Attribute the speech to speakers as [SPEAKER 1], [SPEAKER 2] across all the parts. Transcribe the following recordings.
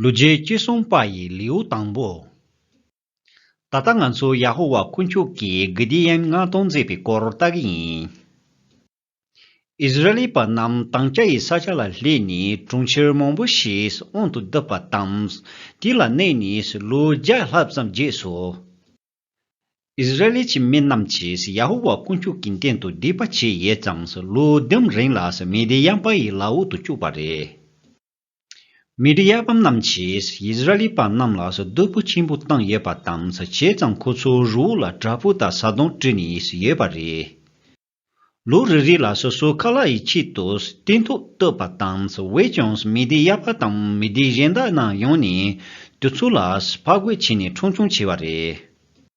[SPEAKER 1] ལུས་རྗེས་གཅེས་སྲུང་དཔའ་ཡི་ལེའུ་དང་པོ། ད་ལྟ་ང་ཚོ་ཡ་ཧོ་ཝཱ་དཀོན་མཆོག་གིས་གྷི་དི་ཡཱན་མངགས་གཏོང་མཛད་པའི་སྐོར་ལྟ་གི་ཡིན། ཨིས་ར་ཨེལ་པ་རྣམས་དང་སྐྱ་ཡི་ས་ཆ་ལ་སླེབས་ནས་གྲོང་ཁྱེར་མང་པོ་ཞིག་དབང་དུ་བསྡུ་བ་དང། དེ་ལ་གནས་ནས་ལོ་བརྒྱ་ལྷག་ཙམ་རྗེས་སུ། ཨིས་ར་ཨེལ་གྱི་མི་རྣམས་ཀྱིས་ཡ་ཧོ་ཝཱ་དཀོན་མཆོག་གི་མདུན་དུ་སྡིག་པ་བྱས་ཡོད་ཙང་ལོ་བདུན་རིང་ལ་མི་དི་ཡཱན་དཔའ་ཡི་ལྭ་འུག་ཏུ་བཅུག་པ་རེད། མི་རིགས་གཡར་བམ་རྣམས་ཀྱིས་ཡིས་ར་ལི་པ་རྣམས་ལ་སྡུག་པོ་ཆེན་པོ་བཏང་ཡོད་པ་དང་བྱས་ཙང་ཁོ་ཚོའི་རི་བོ་ལ་བྲག་ཕུག་དང་ས་དོང་བྲིས་ནས་ཡོད་པ་རེད། ལུག་རི་རིགས་ལ་སོ་སོའི་ཁ་ལག་ཡི་ཆེད་དུ་བརྟན་ཐོག་བཏོད་པ་དང་བས་ཀྱང་མི་སྡེ་གཡར་བ་དང་མི་སྡེ་གཞན་དག་རྣམས་ཡོང་ནས་དུས་ཚོད་ལ་ཕག་རྒོད་བྱས་ནས་ཁྲོང་ཆུང་བྱས་པ་རེད།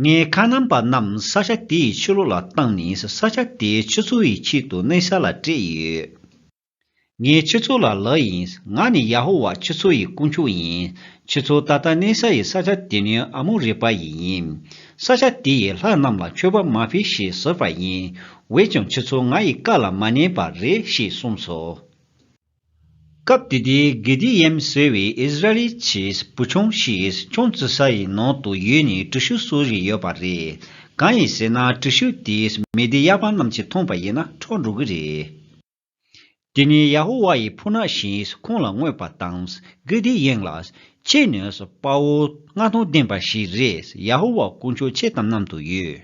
[SPEAKER 1] ལྔའི་ཁ་རྣམ་པ་རྣམས་ས་ཆ་དེ་ཡི་ཕྱི་ལོགས་ལ་བཏང་ནས་ས་ཆ་དེའི་ཆུ་ཚོད་ཡི་ཆེད་དུ་གནས་ས་ལ་སྤྲད་ཡོད། ངའི་ཆུ་ཚོད་ལ་ལག་ཡིན། ང་ནི་ཡ་ཧོ་བྷ་ཆུ་ཚོད་ཡི་དཀོན་མཆོག་ཡིན། ཆུ་ཚོད་ད་ལྟ་གནས་ས་ཡི་ས་ཆ་དེ་ནི་ཨ་མོ་རི་པ་ཡི་ཡིན། ས་ཆ་དེ་ཡི་ལྷ་རྣམས་ལ་མཆོད་པ་མ་ཕིག་ཞེས་ཟེར་བ་ཡིན། འོད་ཀྱང་ཆུ་ཚོད་ང་ཡི་བཀའ་ལ་མ་ཉན་པ་རེད་ཞེས་གསུངས་སོ། སྐབས་དེ་དུས་དགེ་སྡིག་ཡེམ་ཟོས་བའི་ཨིས་ར་ཨེལ་གྱི་བུ་ཆུང་ཞིག་ཁྱུང་བཙུགས་ས་ཡི་ནང་དུ་ཡོད་ནས་གྲུ་ཤུགས་གསོ་བཞིན་ཡོད་པ་རེད། གང་ཡིན་ཟེར་ན་གྲུ་ཤུགས་དེ་མི་སྡེ་གཡར་པ་རྣམས་ཀྱིས་མཐོང་པ་ཡིན་ན་འཕྲོག་འགྲོ་གི་རེད། དེ་ནས་ཡ་ཧོ་ཝཱ་ཡི་ཕུ་ནག་ཞིག་ཁོང་ལ་བསྔོས་པ་དང། དགེ་སྡིག་ཡེམ་ལ། ཁྱེད་ནི་དཔའ་བོ་མངའ་ཐང་ལྡན་པ་ཞིག་རེད་ཡ་ཧོ་ཝཱ་དཀོན་མཆོག་ཁྱེད་དང་མཉམ་དུ་ཡོད།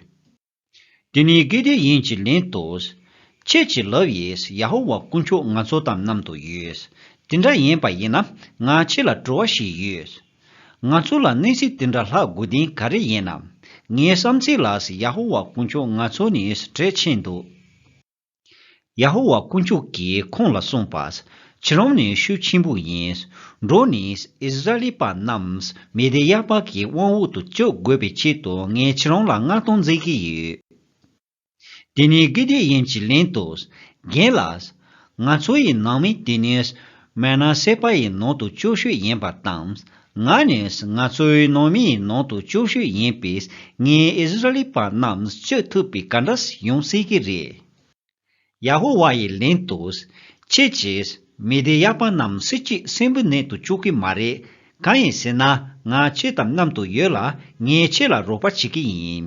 [SPEAKER 1] དེ་ནི་གལ་ཏེ་ཡིན་གྱི་ལན་དུ། ཁྱེད་ཀྱི་ལབ་ཡིས་ཡ་ཧོ་ཝཱ་དཀོན་མཆོག་ང་ཚོ་དང་མཉམ་དུ་ཡོད། དེ་འདྲ་ཡིན་པ་ཡིན་ན་ང་ཁྱེད་ལ་དྲི་བ་ཞིག་ཡོད། ང་ཚོ་ལ་གནས་ཚུལ་དེ་འདྲ་ལྷག་དགོས་དོན་ག་རེ་ཡིན་ནམ། ངའི་བསམ་ཚུལ་ལ་ཡ་ཧོ་ཝཱ་དཀོན་མཆོག་ང་ཚོ་ནི་གྲལ་ཕྱེས་འདུག། ཡ་ཧོ་ཝཱ་དཀོན་མཆོག་གིས་ཁོང་ལ་གསུངས་པ། ཁྱེད་རང་ནི་ཤུགས་ཆེན་པོ་ཡིན། འགྲོ་ནས་ཨིས་ར་ཨེལ་པ་རྣམས་མེ་དེ་ཡཱ་བཱ་གི་དབང་འོག་ཏུ་བཅུག་དགོས་པའི་ཆེད་དུ་ངས་ཁྱེད་རང་ལ་མངགས་གཏོང་མཛད་ཀྱི་ཡོད། དེ་ནས་གི་དེ་ཡན་གྱི་ལན་དུ། རྒན་ལགས། ང་ཚོ་ཡི་ནང་མི་དེ་ནི་མན་ན་སེ་པ་ཡི་ནང་དུ་བཅུ་ཤོས་ཡིན་པ་དང། ང་ནས་ང་ཚོའི་ནང་མིའི་ནང་དུ་སྐྱོབ་ཤུལ་ཡིན་པས་ངས་ཨིསི་རཱལི་པ་རྣམས་གཅོད་ཐུབ་པའི་ག་འདྲ་ཞིག་ཡོང་སྲིད་ཀྱི་རེད། ཡ་ཧོ་ཝཱ་ཡིས་ལན་དུ། ཁྱེད་ཀྱིས་མི་སྡེ་ཡག་པ་རྣམས་སྲིད་ཀྱི་སྲིན་བུའི་ནད་དུ་བཅུག་གི་མ་རེད། གང་ཡིན་ཟེར་ན་ང་ཁྱེད་དང་མཉམ་དུ་ཡོད་ལ་ངས་ཁྱེད་ལ་རོགས་པ་བྱེད་ཀྱི་ཡིན།